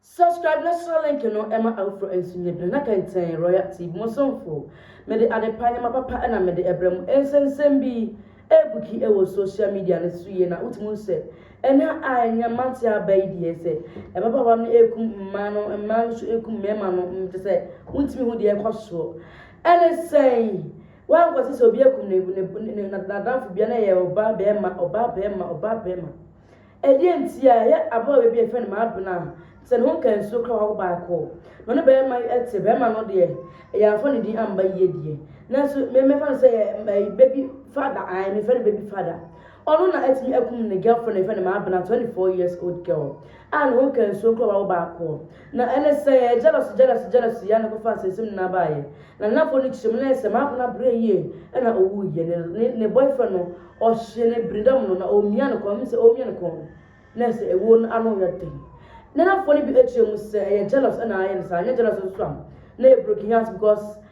Subscribe na sra link no ɛma afoforɔ nso nyɛ bi na kɛntɛn Royal TV mo somfo. Mede adepa nneɛma papa na mede ɛbrɛ mo. Nsɛnsɛm bi ɛbuki ɛwɔ social media no so yie na wotumi hu sɛ ɛnɛ a ɛnyɛ mante aba yi deɛ sɛ ɛbabaawa no ɛkum mmaa no mmaa no so ɛkum mmarima no nti sɛ wontumi hu deɛ ɛkɔ soɔ ɛne sɛn Wankɔsi sɛ obi akum ne ne ne ne n'adamfo bia na ɛyɛ ɔbaa barima, ɔbaa barima, ɔbaa barima. Ɛdeɛn nti a ɛyɛ ababaawa bi a yɛfrɛ no Maabena a te sɛ ne ho nkansuo koraa wawo baako na ɔne barima yi te, barima no deɛ yɛamfa ne din amba yie deɛ nanso me mɛfa no sɛ yɛ ɛyi baby father ae mefrɛ no baby father ɔno na atumi akum ne girlfriend a yɛfrɛ no Maabena 24 years old girl a ne ho nkansuo koraa wawo baako Na ɛne sɛ yɛyɛ jealousy jealousy jealousy yɛ a na ɛkɔfaa nsɛnsɛm nyinaa baeɛ. Na Nanafoɔ no kyerɛ mu na ɛyɛ sɛ Maapena brɛɛ yie na ɔwuiɛ. Ne ne ne boyfriend no ɔhyee no biridam no na ɔremia ne kɔn, menim sɛ ɔremia ne kɔn no na ɛyɛ sɛ ɛwuo no ano yɛ den. Nanafoɔ no bi kyerɛ mu sɛ ɛyɛ jealous na ayɛ no saa, anyɛ jealous nso a na ɛyɛ broken heart because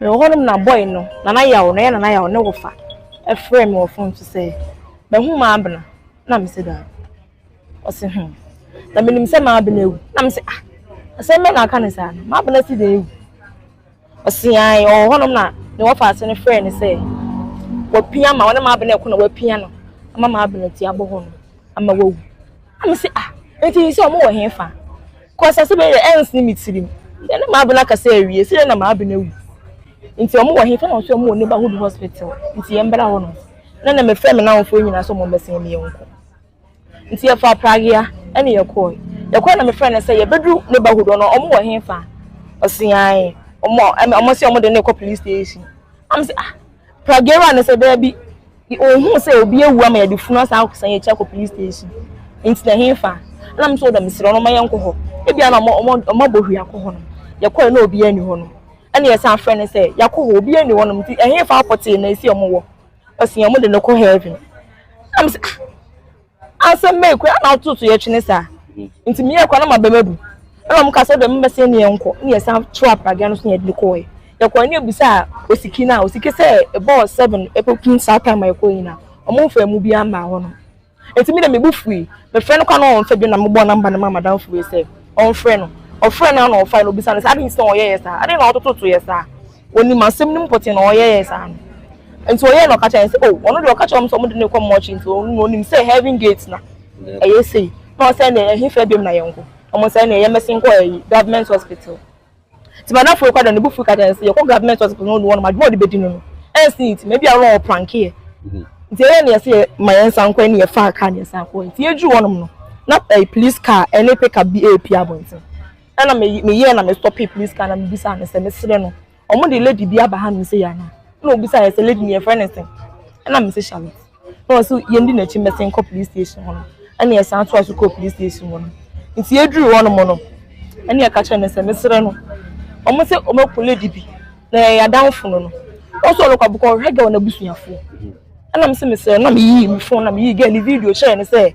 Mewɔ hɔ nom na boy no, Nana Yaw, na ɔyɛ Nana Yaw ne wofa, frɛɛ me wɔ fon so sɛ, Mahu Maabena? Na mese, Daabi. Ɔse, Hum. Na menim sɛ Maabena awu. Na mese, Ah, asɛm bɛn na aka no saa no? Maabena si dɛn awu? Ɔse, Ae, ɔwɔ hɔ nom na ne wɔfa ase no frɛɛ no sɛ, Wapia ma, ɔne Maabena reko na wapia no ama Maabena ti abɔ hɔ nom. ama wawu. Na me se ah nti sisi ɔmo wɔ he fa? Cos ase bɛyɛ dɛ ɛnsene me tirim sɛ na m'abena akasa awie sɛ dɛ na m'abena awu nti ɔmo wɔ he fa? Na ɔse ɔmo wɔ neighborhood hospital nti yɛ mbra hɔ nom. Na na me frɛ me namfoɔ nyinaa sɛ ɔmo mbɛsene me yɛ nkɔ nti yɛ faa pragea ɛne yɛ kɔɔe. Yɛ kɔɔe na me frɛ no sɛ yɛ bɛduru neighborhood hɔ no ɔmo wɔ he fa? Ɔse ae ɔmo ɔmo se ɔmo de no rekɔ police station. Na me se ah. Pragera no sɛ, Dabi, onhuu sɛ obi awu ama yɛde funu asan akɔsan yɛn akyi akɔ police station. Enti na ɛhefa? Ɛna me sɛ, O da, mesrɛ wo no, mma yɛnkɔ hɔ. Ebia na wɔabɔ hwii akɔ hɔ nom. Yɛkɔe na obiara nni hɔ nom. Ɛna yɛsan frɛɛ no sɛ, Yɛakɔ hɔ, obiara nni hɔ nom. Enti ɛhefa wokɔtee na esi wɔn wɔ? Ɔsee, Wɔde no kɔ heaven. Ɛna me sɛ, Ah! Asɛm bɛn koraa na wotow to yɛtwene saa? Enti meyɛɛ koraa na m'abam abu. Ɛnna wɔkaa sɛ, Dɛm mmɛsɛe ne yɛnkɔ. Ɛnna yɛsan too apragea no so na yɛde no kɔe. Yɛkɔe no, yebisaa Osiki no a, Osiki sɛ ɛbɔɔ seven kokum saa time a yɛkɔe nyinaa, wɔmfaa emu biara mmaa hɔ no. Enti me de, me bo fuwii. Mefrɛɛ no koraa na ɔmfa bio na mebɔɔ number no maa m'adamfo wei sɛ ɔmfrɛ no. Ɔfrɛɛ no ara na ɔfae na obisaa no sɛ, Adɛn nti na wɔyɛɛ yɛn saa? Adɛn na wɔtotow to yɛn saa? Onim asɛm no mu pɔtee na ɔyɛɛ saa no. Nti ɔyɛɛ na ɔka kyerɛɛ yɛn sɛ oh ɔno deɛ ɔka kyerɛɛ wɔn sɛ wɔde no rekɔ mortuary nti ɔno deɛ onim sɛ heaven gate na ɛyɛ sei na ɔsɛ ɛnneɛ ɛhe fɛ biom na yɛn kɔ na wɔn sɛ ɛnneɛ yɛn bɛsen kɔ ɛyi government hospital. Nti madamfo rekɔ da no ne bo fui ka kyerɛɛ yɛn sɛ yɛkɔ government hospital na ɔnu wɔn adwuma a ɔde bɛdi no no ɛnsi nti ma ebi a ɔno ɔpranke yɛ nti ɛyɛ na yɛsɛ yɛ ma yɛn nsan kɔ ɛne yɛ faa car na yɛsan kɔ nti yɛduru hɔ nom no na ɛyi police car ɛne pick up bi ɛrepi abɔnten. ɛna me me yɛ na me stop police car na me bisa no sɛ me srɛ no wɔn de lady bi aba ha no sɛ yɛ ana ɛna obisa yɛ sɛ lady ni yɛ fɛ ne sɛ ɛna me sɛ charlotte na wɔn so yɛn di n'akyi mɛ sɛn kɔ police station hɔ no ɛna yɛ san to aso kɔ police station hɔ no nti yɛ duru hɔ no mo no ɛna yɛ ka kyerɛ no sɛ me srɛ no wɔn sɛ wɔn akɔ lady bi na yɛ yɛ adanfo no no wɔn so ɔlɔkɔ abokɔ ɔhwɛ gɛ wɔn abusuafoɔ ɛna me sɛ me srɛ na me yi me phone na me yi gɛ ne video kyerɛ ne sɛ.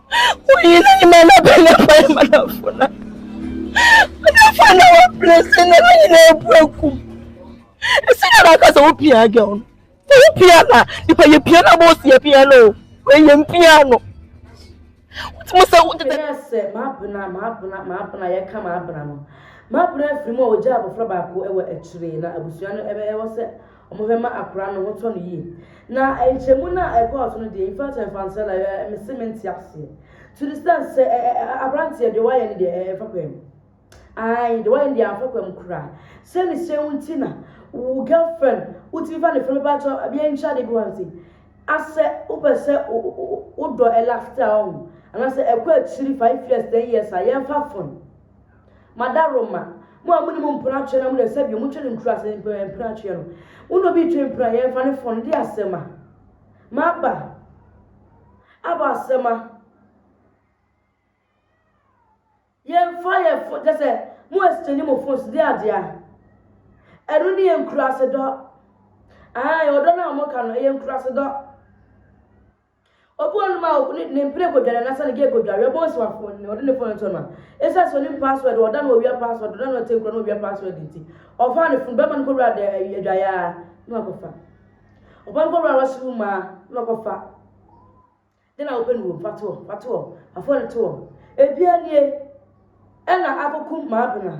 Wonyi na nyima na bɛn na bɛn manafo na. Manafo na wɔ presi na na nyina ebu akum. Esi na na kasa wo pia girl no. Wo pia na nipa ye pia na boss ye pia no. We ye mpia no. Wotimo se wo tete. Ɛyɛ sɛ m'abena m'abena m'abena yɛka m'abena no m'abena afiri mu a ogya abɔfra baako wɔ akyire na abusua no ɛbɛyɛ wɔ sɛ Wɔbɛma akora no ho tɔ no yie. Na nkyɛmu no a ɛkɔɔ so no deɛ, in fact ɛmfa nkyerɛ like ɛ me se mente aseɛ to the extent sɛ ɛ ɛ ɛ abranteɛ deɛ wayɛ no deɛ ɛ ɛmfa kwan mu. Ae deɛ wayɛ no deɛ amfa kwan mu koraa. Sɛ ne sɛ wo nti na wo girlfriend wotumi fa ne fɛ mepakyɛ bia ntwa de bi wa nti. Asɛ wopɛ sɛ wo wo wo dɔ ɛ last a ɔho. Anasɛ ɛkɔ akyiri five years ten years a yɛmfa fon. Mada Roma. Mo a monim mpena atweɛ na modɛ sɛdeɛ motwe no nkura ase mpena mpena atweɛ no. Wo na obi retwe mpena yɛn fa ne fon no di asɛm a. Maba. Aba asɛm a. Yɛn fa yɛn fo kyɛ sɛ mo exchange mo phones di adeɛ a. Ɛno ne yɛn nkura ase dɔ. Ae ɔdɔ no a wɔka no ɛyɛ nkura ase dɔ. Obi wɔ hɔnom a ɔkɔ ne ne mpene kɔ dware anasa ne gye kɔ dware ɔbɔ nsi wafo ne ɔde ne fone nto no a esiane sɛ onim password ɔda no owia password ɔda no ɔte nkura no owia password nti ɔfa ne funu bɛma no kɔ wura de adwayaa na wakɔfa ɔbɔ no kɔ wura wasi wo maa na wakɔfa de na wopɛ no wom fa toɔ fa toɔ fa fone toɔ ebia nie ɛna akɔkum maa bena.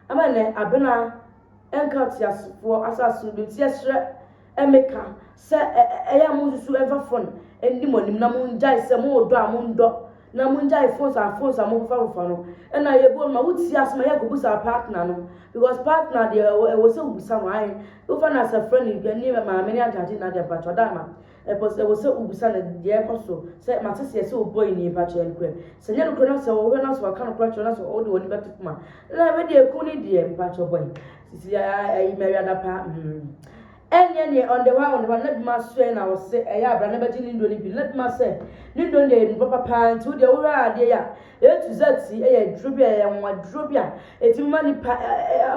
Ama nnɛ, Abena nka ateasefoɔ asase so bio, nti yɛsrɛ Emeka sɛ ɛyɛ a monsusu mfa fon nni mo anim na mongyae sɛ mo wɔ dɔ a mondɔ na mongyae phones a phones a mofofa fofa no. Ɛna yɛbɔ no ma wotie asɛm a yɛ kɔbusa partner no because partner deɛ ɛwɔ sɛ wobisa no ae wofa no as a friend ne maame ne agya agye nna deɛ mpakyɛw da ma Mpo sɛ ɛwɔ sɛ wobisa no deɛ ɛrekɔ so, sɛ, Mate seɛ sɛ wobɔɔ nnii, mpa kyerɛ nokorɛ, sɛ ɛnyɛ nokorɛ na sɛ wohwɛ na sɛ waka nokorɛ akyerɛ wo na sɛ wode w'ani bɛto fam a, la, wei deɛ ɛku no deɛ, mpa kyerɛ bɔe, sisi a, ayi mɛ awiada pa, mm, ɛnneɛ neɛ on the while, on the while, na bi ma sɛ na ɔse ɛyɛ a bra na bɛgye ne nnuro no bi, na bi ma sɛ ne nnuro no deɛ ɛyɛ nnuro papa paa, nti wo deɛ wohwɛ a adeɛ yi a, A to Z yi yɛ aduro bi a ɛyɛ nwa aduro bi a ɛtumi ma nipa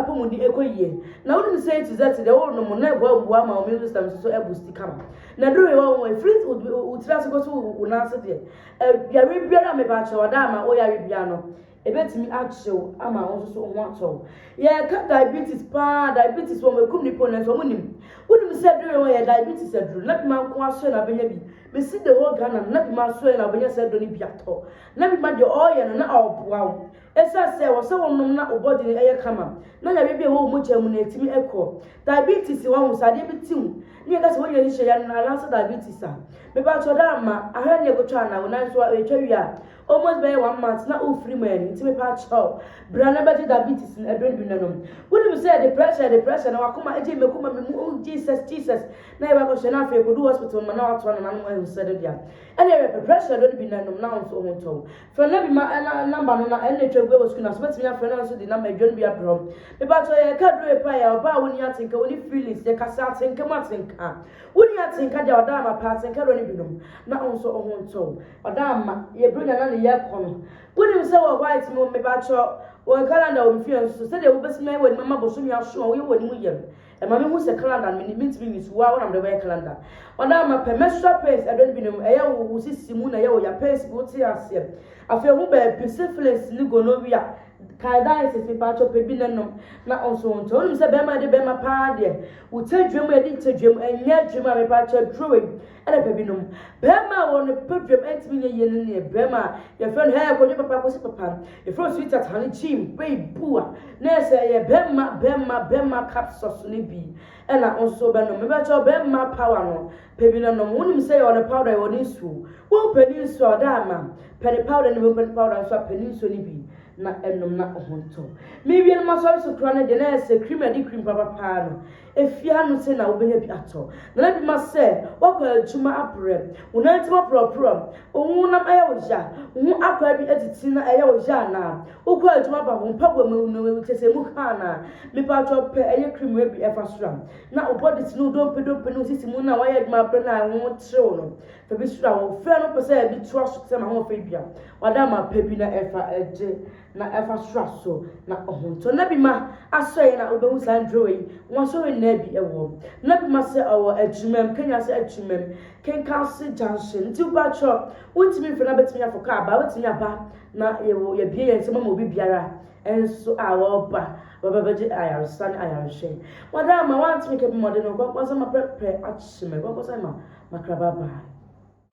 apɔmuden ɛkɔ yie na wonim sɛ A to Z deɛ wonom na ɛboa mmoa ma immune system nso ɛbu si kama na aduro wei wɔn ɛfiri wo tiri ase kɔsi wo nan ase deɛ yare biara a meba akyerɛ wɔda ama wo yare biara no ɛbɛtumi akyew ama wo nso so ho atɔ wo yɛka diabetes paa diabetes wɔn ɛkum nipa onɛ nso wɔn nim wonim sɛ aduro wei wɔn yɛ diabetes aduro na bi ma nko aso na abɛnya bi mesi the whole Ghana na bi ma aso na abɛnya sɛ aduro no bi atɔ Na bi ma deɛ ɔreyɛ no na ɔreboa wo. Ɛsiane sɛ ɛwɔ sɛ wonom na wo body no yɛ kama na yareɛ bi a ɛwɔ wo mogya mu no atumi akɔ. Diabetes, wahu sɛ adeɛ bi te wo na yɛka sɛ woanya nhyira yare no anaasɛ diabetes a. Mepakyɛ ɔda amma, ahwɛ neɛ kotwa anaa wo nan so a ɛtwa wie a almost bɛyɛ one month na wofiri mu ani nti mepakyɛ wo bra na bɛgye diabetes no aduro no bi na nom. Wonim sɛ yɛde pressure yɛde pressure na wakoma agye me koma me mu oh Jesus Jesus na yɛba kɔhwɛ na afei ɛkɔdu hospital no ma na wato anana no mu ahu sɛ no deɛ Ɛna ɛyɛ pɛ, pressure ɛdɔ no bi na ɛnom na wo nso wo ho ntɔ wo. Frɛ no bi ma ɛna number no na ɛna atwa agu ɛwɔ school no ase, wobɛtumi afrɛ na nso de number adwa no bi abrɛ wɔn. Mepakyɛw yɛ ɛka aduro epa yɛ ɔbaa a wonni atenka, wonni feelings, yɛ ka sɛ atenka mu atenka. Wonni atenka deɛ a ɔda ama paa, atenka dɔ no bi nom na wo nso wo ho ntɔ wo. Ɔda ama, yɛ bronya na ne yɛ kɔ no. Wonim sɛ wɔ white mu, mepakyɛw, wɔ calendar wɔ me fie nso, sɛdeɛ wobɛtumi ayɛ w'anim ama bosome aso a woyɛ w'anim yɛ no, Ɛma me hu sɛ calendar no me ntumi nyi so, wo ara wo na mede bɛyɛ calendar. Madama pɛ, menstrual pains ɛdɔ no binom, ɛyɛ wo wo sisi mu na ɛyɛ wo ya, pains bi wo te aseɛ. Afei hu baabi, syphilis ne gonorrhea, candidiasis mepakyɛw pɛ bi na nom, na nso ntɔ, wonim sɛ bɛɛma yɛde bɛɛma paa deɛ, wo tɛdwam yɛde tɛdwam, ɛnyɛ adwuma mepakyɛw, aduro wei. Anɔpa binom, barima a wɔn baguam antumi nyɛ yie no ne barima a yɛfrɛ no Hey Kwadwo Papa Akwasi Papa, yɛfrɛ no Sweetheart Honey Jim, Babe Bua, na yɛ sɛ ɛyɛ bɛmma bɛmma bɛmma capsules no bi na wo nso wobɛnom. Mepakyɛw, bɛmma power no, pɛ bi na nom. Wonim sɛ yɛwɔ ne powder, yɛwɔ ne nsuo. Wompɛ ne nsuo a, ɔda ama. Pɛ ne powder no bi, wompɛ ne powder nso a, pɛ ne nsuo no bi na nom na wo ho ntɔ. Mewie no, m'asɔre so koraa no deɛ, na yɛ sɛ cream a yɛde cream papa paa no, Efi ano sɛn na wobenya bi atɔ? Nana bi ma sɛ, Woakɔ adwuma abrɛ, wo nantin aporɔporɔ, wo honam ayɛ wo ya, wo ho akwaa bi atiti na ɛyɛ wo ya anaa? Wokɔ adwuma ba a, wo mpaboa mu awu na wawu kyerɛ sɛ emu ka anaa? Mepakyɛw pɛ ɛyɛ krim a bi ɛfa soro a na wo bɔdis ne wo dompe dompe ne wo sisi mu no a woayɛ adwuma abrɛ na ɛho terew no, fa bi sra. Wɔfrɛ no pɛ sɛ bi toa so te sɛ m'ahoɔfɛ dua, w'adamma pa bi na fa gye na ɛfa soro asosɔ, na ɔhontɔ. Na bi ma asɔ yɛ na wobɛhu saa nkurowa yi, wɔn asɔre nnaa bi wɔ. Na bi ma sɛ ɔwɔ Akyiremam, Kenya ase Akyiremam, Kenkasi Junction. Nti woba kyerɛ, wontumi mfrɛ na bɛtumi afɔ kaa ba, wobɛtumi aba na yɛwɔ yɛbie yɛn nsam ama obi biara nso a wɔba bɛba bɛgye ayaresa ne ayarehwɛ. Madam ma woantumi kɛ bi ma ɔde ne ho kwankwansa ma prɛprɛ akyemɛ, kwankwansa ma makraba baa.